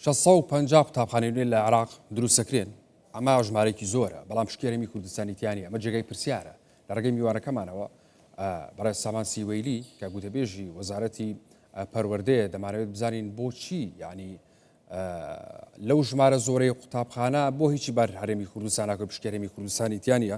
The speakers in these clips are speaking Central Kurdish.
شەش سەد و پەنجا قوتابخانەی نوێ لە عێراق دروست دەکرێن ئەمە ژمارەیەکی زۆرە بەڵام شکێرەمی کوردستانی تیانی ئەمە جێگای پرسیارە لە ڕێگەی میوانەکەمانەوە بەڕێز سامان سیوەیلی کە گوتەبێژی وەزارەتی پەروەردەیە دەمانەوێت بزانین بۆچی ینی لەو ژمارە زۆرەی قوتابخانە بۆ هیچی بار هەرێمی کوردستانە کە پشکێرەمی کوردستانی تیانە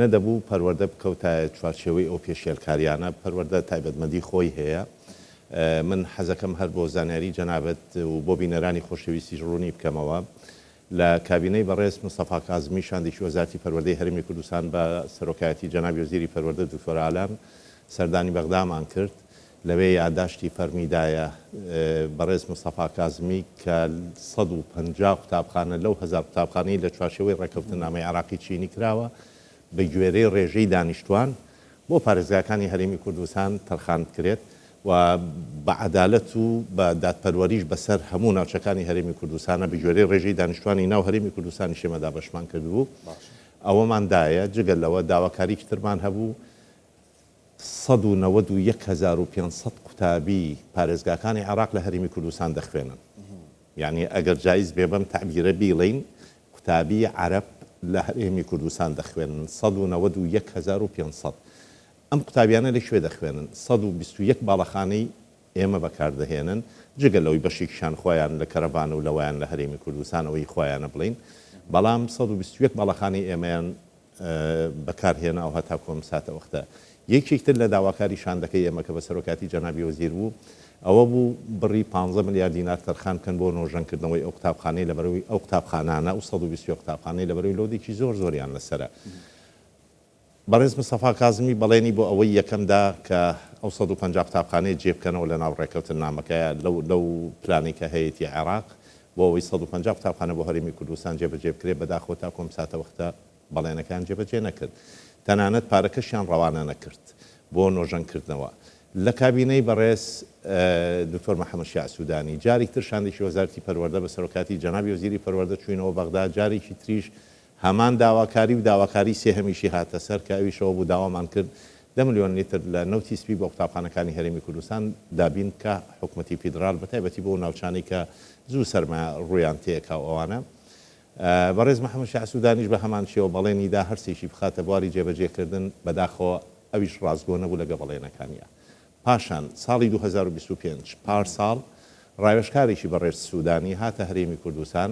نەدەبوو پەروەردە بکەوتایە چوارچێوەی ئەو پێشێلکاریانە، پەروەردە تایبەتمەندی خۆی هەیە، من حەزەکەم هەر بۆ زانیاری جەنابت و بۆ بینەرانی خۆشەویستیش ڕوونی بکەمەوە، لە کابینەی بەڕێز مستەفا کازمی شاندێکی وەزارتی پەروەردەی هەرێمی کوردستان بە سەرۆکایەتی جەنابی وەزیری پەروەردە دکتۆر ئالان سەردانی بەغدامان کرد، لەوێ یاداشتی فەرمی دایە بەڕێز مستەفا کازمی کە سەد و پەنجا قوتابخانە لەو هەزار قوتابخانەی لە چوارچێوەی ڕێککەوتننامەی عێراقی چینی کراوە بە گوێرەی ڕێژەی دانیشتوان بۆ پارێزگاکانی هەرێمی کوردستان تەرخان بکرێت و بە عەدالەت و بە دادپەروەریش بەسەر هەموو ناوچەکانی هەرێمی کوردستانە بە گوێرەی ڕێژەی دانیشتوانی ناو هەرێمی کوردستانیش ئێمە دابەشمان کردبوو ئەوەمان دایە جگە لەوە داواکاریکی ترمان هەبوو سەد و نەوەد و یەک هەزار و پێنج سەد قوتابی پارێزگاکانی عێراق لە هەرێمی کوردستان دەخوێنن. یانی ئەگەر جایز بێ بەم تەعبیرە بیڵێین، قوتابی عەرەب لە هەرێمی کوردستان دەخوێنن، سەد و نەوەد و یەک هەزار و پێنج سەد. ئەم قوتابیانە لە کوێ دەخوێنن؟ سەد و بیست و یەک باڵەخانەی ئێمە بەکار دەهێنن، جگە لەوەی بەشێکیشان خۆیان لە کەرەڤانە و لەوایان لە هەرێمی کوردستانەوە هی خۆیانە بڵێین، بەڵام سەد و بیست و یەک باڵەخانەی ئێمەیان بەکار هێناو هەتاکو ئەم ساتە وەختە. یەکێک تر لە داواکاری شاندەکەی ئێمە کە بە سەرۆکاتی جەنابی وەزیر بوو ئەوە بوو بڕی پانزە ملیار دینار تەرخان بکەن بۆ نۆژەن کردنەوەی ئەو قوتابخانەی لەبەروی ئەو قوتابخانانە ئەو سەد و بیست و یەک قوتابخانەی لەبەروی لۆدێکی زۆر زۆریان لەسەرە. بەڕێز مستەفا کازمی بەڵێنی بۆ ئەوەی یەکەم دا کە ئەو سەد و پەنجا قوتابخانەیە جێ بکەنەوە لەناو ڕێکەوتن نامەکەیا لەو لەو پلانەی کە هەیەتی عێراق بۆ ئەوەی سەد و پەنجا قوتابخانە بۆ هەرێمی کوردستان جێبەجێ بکرێت، بەداخەوە تاکو ئەم ساتەوەختە بەڵێنەکەیان جێبەجێ نەکرد، تەنانەت پارەکەشیان ڕەوانە نەکرد بۆ نۆژەنکردنەوە. لە کابینەی بەڕێز دکتۆر محەمەد شیاع سودانی، جاریکتر شاندێکی وەزارەتی پەروەردە بە سەرۆکاتی جەنابی وەزیری پەروەردە چووینەوە بەغدا، جارێکی تریش هەمان داواکاری و داواکاری سێهەمیشی هاتە سەر کە ئەویش ئەوە بوو داوامان کرد دە ملیۆن لیتر لە نەوتی سپی بۆ قوتابخانەکانی هەرێمی کوردستان دابین بکا حکومەتی فیدڕال بە تایبەتی بۆ ئەو ناوچانەی کە زوو سەرما ڕوویان تێکا و ئەوانە بەڕێز محەمەد شا سودانیش بە هەمان شێوە بەڵێنی دا هەرسێکی بخاتە بواری جێبەجێ کردن بەداخەوە ئەویش ڕاستگۆ نەبوو لەگە بەڵێنەکانیا پاشان ساڵی دوو هەزار و بیست و پێنج پار ساڵ ڕاوێژکارێکی بەڕێز سودانی هاتە هەرێمی کوردستان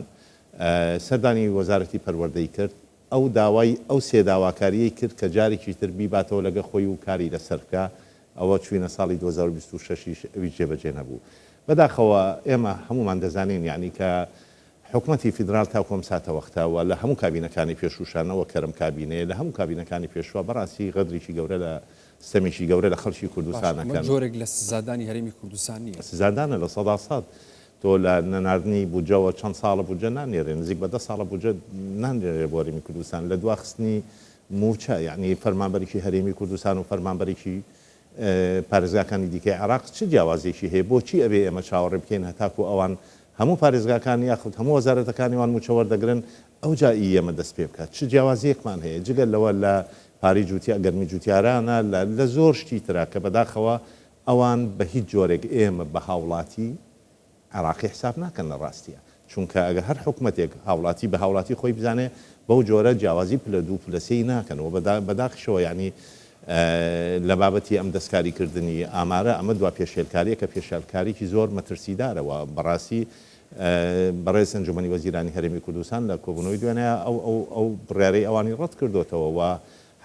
سەردانی وەزارەتی پەروەردەی کرد، ئەو داوای ئەو سێ داواکارییەی کرد کە جارێکی تر بیباتەوە لەگە خۆی و کاری لەسەر بکا، ئەوە چوینە ساڵی دوو هەزار و بیست و شەش یش ئەویش جێبەجێ نەبوو. بەداخەوە ئێمە هەموومان دەزانین یانی کە حکومەتی فیدرال تاکو ئەم ساتەوەختە و لە هەموو کابینەکانی پێشووشا نەوەک کە ئەم کابینەیە لە هەموو کابینەکانی پێشووە بەڕاستی غەدرێکی گەورە لە ستەمێکی گەورە لە خەڵکی کوردستان ئەکەن. باشە ئەمە جۆرێک لە سزادانی هەرێمی کوردستان نییە؟ سزادانە لە سەدا سەد. تۆ لە نەناردنی بودجەوە چەند ساڵە بودجە نانێرێ نزیک بە دە ساڵە بودجە نانرێنێ بۆ هەرێمی کوردستان لە دوا خستنی مووچە یەعنی فەرمانبەرێکی هەرێمی کوردستان و فەرمانبەرێکی پارێزگاکانی دیکەی عێراق چ جیاوازیەکی هەیە بۆچی ئەبێ ئێمە چاوەڕێ بکەین هەتاکو ئەوان هەموو پارێزگاکان یاخود هەموو وەزارەتەکانیوان مووچە وەردەگرن ئەوجا ئی ئێمە دەست پێ بکات چ جیاوازیەکمان هەیە جگە لەوە لە پارەی جوتیا گەرمی جوتیارانە لە لە زۆر شتی ترا کە بەداخەوە ئەوان بە هیچ جۆرێک ئێمە بە هاوڵاتی عێڕاقی حساب ناکەن لە ڕاستیا، چونکە ئەگە هەر حکومەتێک هاوڵاتی بە هاوڵاتی خۆی بزانێ بەو جۆرە جیاوازی پلە دوو پلە سێی ناکەن و بە داخشەوە یانی لە بابەتی ئەم دەستکاری کردنی ئامارە ئەمە دوا پێشێلکاریەکە پێشێلکاریکی زۆر مەترسیدارە و بە ڕاستی بەڕێز ئەنجومەنی وەزیرانی هەرێمی کوردستان لە کۆبوونەوەی دوێنێ ئەو ئەو ئەو بڕیارەی ئەوانی ڕەت کردۆتەوە و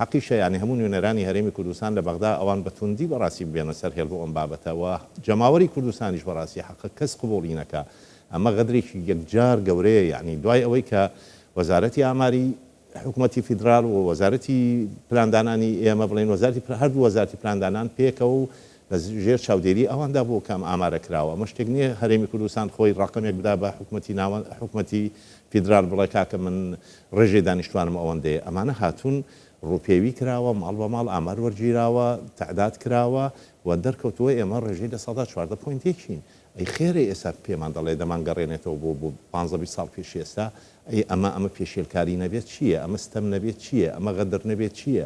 هەقیشە یانی هەموو نوێنەرانی هەرێمی کوردستان لە بەغدا ئەوان بە توندی بەڕاستی ببێنە سەر هێڵ بۆ ئەم بابەتە و جەماوەری کوردستانیش بەڕاستی حەقە کەس قبوڵی نەکا ئەمە غەدرێکی یەکجار گەورەیە یانی دوای ئەوەی کە وەزارەتی ئاماری حکومەتی فیدرال و وەزارەتی پلاندانانی ئێمە بڵێن وەزارەتی هەردوو وەزارەتی پلاندانان پێکەوە و لە ژێر چاودێری ئەواندا بۆ کام ئامارە کراوە؟ ئەمە شتێک نییە هەرێمی کوردستان خۆی ڕەقەمێک بدا بە حکومەتی ناوەند، حکومەتی فیدرال بڵێ کاکە من ڕێژەی دانیشتوانم ئەوەندەیە. ئەمانە هاتوون ڕووپێوی کراوە، ماڵ بە ماڵ ئامار وەرگیراوە، تەعداد کراوە و دەرکەوتووە ئێمە ڕێژەی لە سەدا چواردە پۆینت یەکین. ئەی خێرە ئێستا پێمان دەڵێ دەمانگەڕێنێتەوە بۆ بۆ پانزە بیست ساڵ پێش ئێستا؟ ئەی ئەمە ئەمە پێشێلکاری نەبێت چییە؟ ئەمە ستەم نەبێت چییە؟ ئەمە غەدر نەبێت چییە؟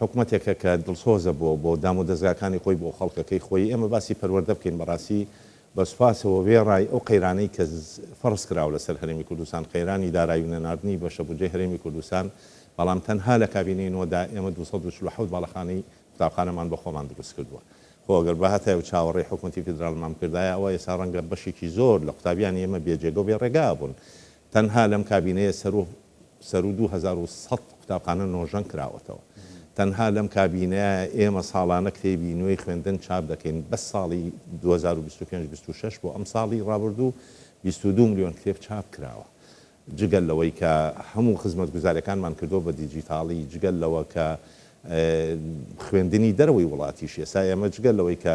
حکومەتێکە کە دڵسۆزە بۆ بۆ دامودەزگاکانی خۆی بۆ خەڵکەکەی خۆی ئێمە باسی پەروەردە بکەین بەڕاستی بە سوپاسەوە وێڕای ئەو قەیرانەی کە فەرز کراوە لەسەر هەرێمی کوردستان قەیرانی دارایی و نەناردنی بەشە بودجەی هەرێمی کوردستان بەڵام تەنها لە کابینەی نۆدا ئێمە دوو سەد و چل و حەوت باڵەخانەی قوتابخانەمان بە خۆمان دروست کردووە خۆ ئەگەر بهاتایە و چاوەڕێی حکومەتی فیدرالمان بکردایە ئەوا ئێستا ڕەنگە بەشێکی زۆر لە قوتابیانی ئێمە بێ جێگە و بێ ڕێگا ئەبوون تەنها لەم کابینەیە سەرو سەرو دوو هەزار و سەد قوتابخانە نۆژەن کراوەتەوە. تەنها لەم کابینەیە ئێمە ساڵانە کتێبی نوێی خوێندن چاپ دەکەین، بەس ساڵی دوو هەزار و بیست و پێنج بیست و شەش بۆ ئەمساڵی ڕابردوو بیست و دوو ملیۆن کتێب چاپ کراوە. جگە لەوەی کە هەموو خزمەتگوزاریەکانمان کردووە بە دیجیتاڵی، جگە لەوە کە خوێندنی دەرەوەی وڵاتیش ئێستا ئێمە جگە لەوەی کە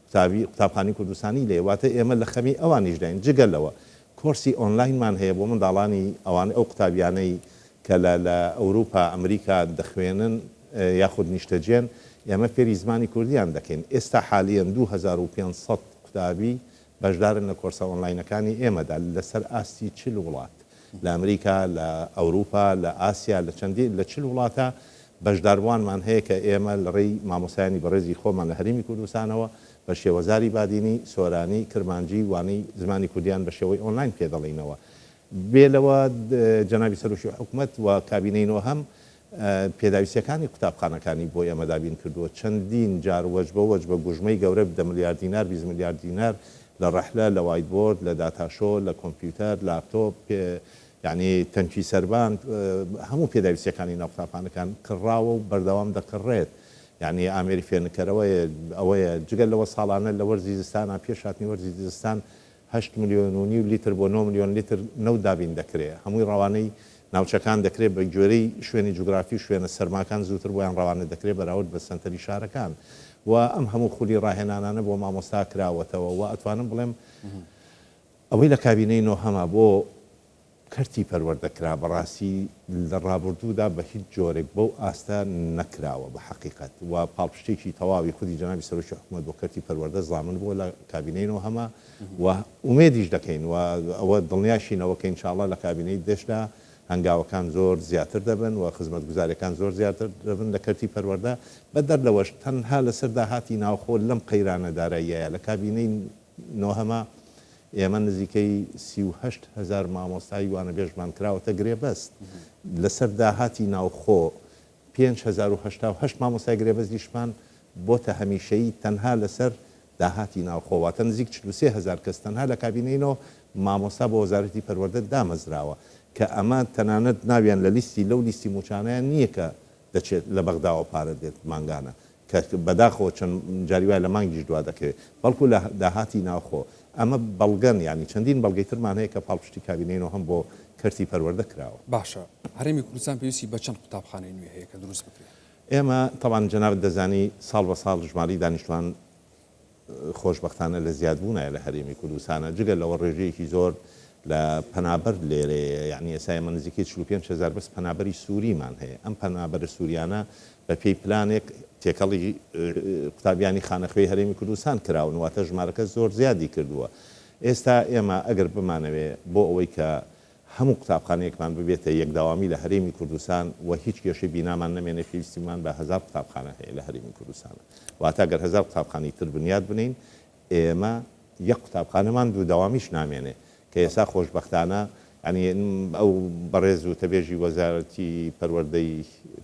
قوتابی قوتابخانەی کوردستانی لێیە، واتە ئێمە لە خەمی ئەوانیشداین، جگە لەوە کۆرسی ئۆنلاینمان هەیە بۆ منداڵانی ئەوانەی ئەو قوتابیانەی کە لە لە ئەوروپا ئەمریکا دەخوێنن یاخود نیشتەجێن ئێمە فێری زمانی کوردیان دەکەین ئێستا حالیەن دوو هەزار و پێنج سەد قوتابی بەشدارن لە کۆرسە ئۆنلاینەکانی ئێمەدا لەسەر ئاستی چل وڵات لە ئەمریکا، لە ئەوروپا، لە ئاسیا، لە چەندین، لە چل وڵاتە بەشداربووانمان هەیە کە ئێمە لە ڕێی مامۆستایانی بەڕێزی خۆمان لە هەرێمی کوردستانەوە بە شێوەزاری بادینی، سۆرانی، کرمانجی وانەی زمانی کوردیان بە شێوەی ئۆنلاین پێ دەڵێینەوە. بێ لەوە جەنابی سەرۆکی حکومەت و کابینەی نۆهەم پێداویستیەکانی قوتابخانەکانی بۆ ئێمە دابین کردووە، چەندین جار وەجبە وەجبە گوژمەی گەورە بدە ملیار دینار بیست ملیار دینار لە ڕەحلە، لە وایت بۆرد، لە داتا شۆ، لە کۆمپیوتەر، لاپتۆپ، پێ یانی تەنکی سەربان، هەموو پێداویستیەکانی ناو قوتابخانەکان کڕراوە و بەردەوام دەکڕرێت، یانی ئامێری فێرنکەرەوە ئەوەیە، جگە لەوە ساڵانە لە وەرزی زستانا پێش هاتنی وەرزی زستان هەشت ملیۆن و نیو لیتر بۆ نۆ ملیۆن لیتر نەوت دابین دەکرێ، هەمووی ڕەوانەی ناوچەکان دەکرێ، بە گوێرەی شوێنی جوگرافی و شوێنە سەرماکان زووتر بۆیان ڕەوانە دەکرێ بەراورد بە سەنتەری شارەکان و ئەم هەموو خولی ڕاهێنانانە بۆ مامۆستا کراوەتەوە و ئەتوانم بڵێم ئەوەی لە کابینەی نۆهەمە بۆ کەرتی پەروەردە کرا بەڕاستی لە ڕابوردوودا بە هیچ جۆرێک بەو ئاستە نەکراوە بە حەقیقەت و پاڵپشتێکی تەواوی خودی جەنابی سەرۆکی حکومەت بۆ کەرتی پەروەردە زامن بووە لە کابینەی نۆ هەمە و ئومێدیش دەکەین و ئەوە دڵنیاشین ئەوە کە انشاءاللە لە کابینەی دەش دا هەنگاوەکان زۆر زیاتر دەبن و خزمەتگوزاریەکان زۆر زیاتر دەبن لە کەرتی پەروەردە بەدەر لەوەش تەنها لەسەر داهاتی ناوخۆ لەم قەیرانە داراییایە لە کابینەی نۆهەمە، ئێمە نزیکەی سی و هەشت هەزار مامۆستای وانەبێژمان کراوەتە گرێبەست، لەسەر داهاتی ناوخۆ پێنج هەزار و هەشتا و هەشت مامۆستای گرێبەستیشمان بۆتە هەمیشەیی تەنها لەسەر داهاتی ناوخۆ، واتە نزیک چل و سێ هەزار کەس تەنها لە کابینەی نۆ مامۆستا بۆ وەزارەتی پەروەردە دامەزراوە، کە ئەمە تەنانەت ناویان لە لیستی لەو لیستی مووچانەیان نییە کە دەچێت لە بەغداوە پارە دێت مانگانە، کە بەداخەوە چەند جاری وایە لە مانگیش دوا دەکەوێت، بەڵکو لە داهاتی ناوخۆ. ئەمە بەڵگەن، یانی چەندین بەڵگەی ترمان هەیە کە پاڵپشتی کابینەی نۆهەم بۆ کەرتی پەروەردە کراوە. باشە هەرێمی کوردستان پێویستی بە چەند قوتابخانەی نوێ هەیە کە دروست بکرێت؟ ئێمە، تەبعەن جەنابت دەزانی ساڵ بە ساڵ ژمارەی دانیشتوان خۆشبەختانە لە زیادبوونایە لە هەرێمی کوردستانە جگە لەوە ڕێژەیەکی زۆر لە پەنابەر لێرەیە یانی ئێستا ئێمە نزیکەی چل و پێنج هەزار بەس پەنابەری سووریمان هەیە ئەم پەنابەرە سووریانە بە پێی پلانێک تێکەڵی قوتابیانی خانەخوێی هەرێمی کوردستان کراون واتە ژمارەکە زۆر زیادی کردووە ئێستا ئێمە ئەگەر بمانەوێ بۆ ئەوەی کە هەموو قوتابخانەیەکمان ببێتە یەک دەوامی لە هەرێمی کوردستان و هیچ کێشەی بینامان نەمێنێ پێویستیمان بە هەزار قوتابخانە هەیە لە هەرێمی کوردستانە واتە گەر هەزار قوتابخانەی تر بنیات بنێین ئێمە یەک قوتابخانەمان دوو دەوامیش نامێنێ کە ئێستا خۆشبەختانە یانی ئەو بەڕێز وتەبێژی وەزارەتی پەروەردەی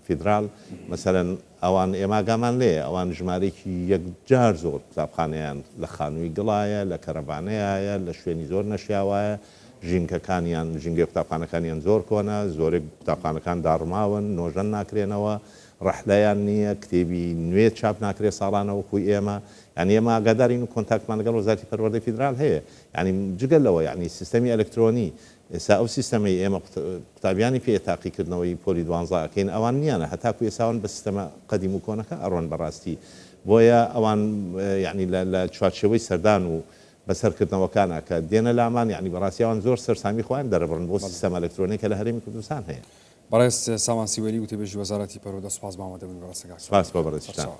فیدراڵ مەسەلەن ئەوان ئێمە ئاگامان لێیە ئەوان ژمارەیەکی یەکجار زۆر قوتابخانەیان لە خانووی دڵایە، لە کەرەڤانەیایە، لە شوێنی زۆر نەشیاوایە، ژینگەکانیان، ژینگەی قوتابخانەکانیان زۆر کۆنە، زۆرێک قوتابخانەکان داڕماون، نۆژەن ناکرێنەوە، ڕەحلەیان نییە، کتێبی نوێ چاپ ناکرێت ساڵانە وەکوو ئێمە، یانی ئێمە ئاگادارین و کۆنتاکتمان لەگەڵ وەزارەتی پەروەردەی فیدرال هەیە، یانی جگە لەوە یانی سیستەمی ئەلکترۆنی ئێستا ئەو سیستەمەی ئێمە قوتابیانی پێ تاقی کردنەوەی پۆلی دوانزە ئەکەین ئەوان نییانە هەتاکو ئێستا ئەوان بە سیستەمە قەدیم و کۆنەکە ئەڕۆن بەڕاستی بۆیە ئەوان یەعنی لە لە چوارچێوەی سەردان و بەسەر کردنەوەکانا کە دێنە لامان یەعنی بەڕاستی ئەوان زۆر سەرسامی خۆیان دەرەبڕن بۆ بەڵێ. سیستەمە ئەلەکترۆنیە کە لە هەرێمی کوردستان هەیە. بەڕێز سامان سیوەیلی وتەبێژی وەزارەتی پەروەردە سوپاس بەمامەدەبوونی بەڕێزتان کاک سۆران سوپاس بۆ بەڕێزیشتان. سەرچاوە.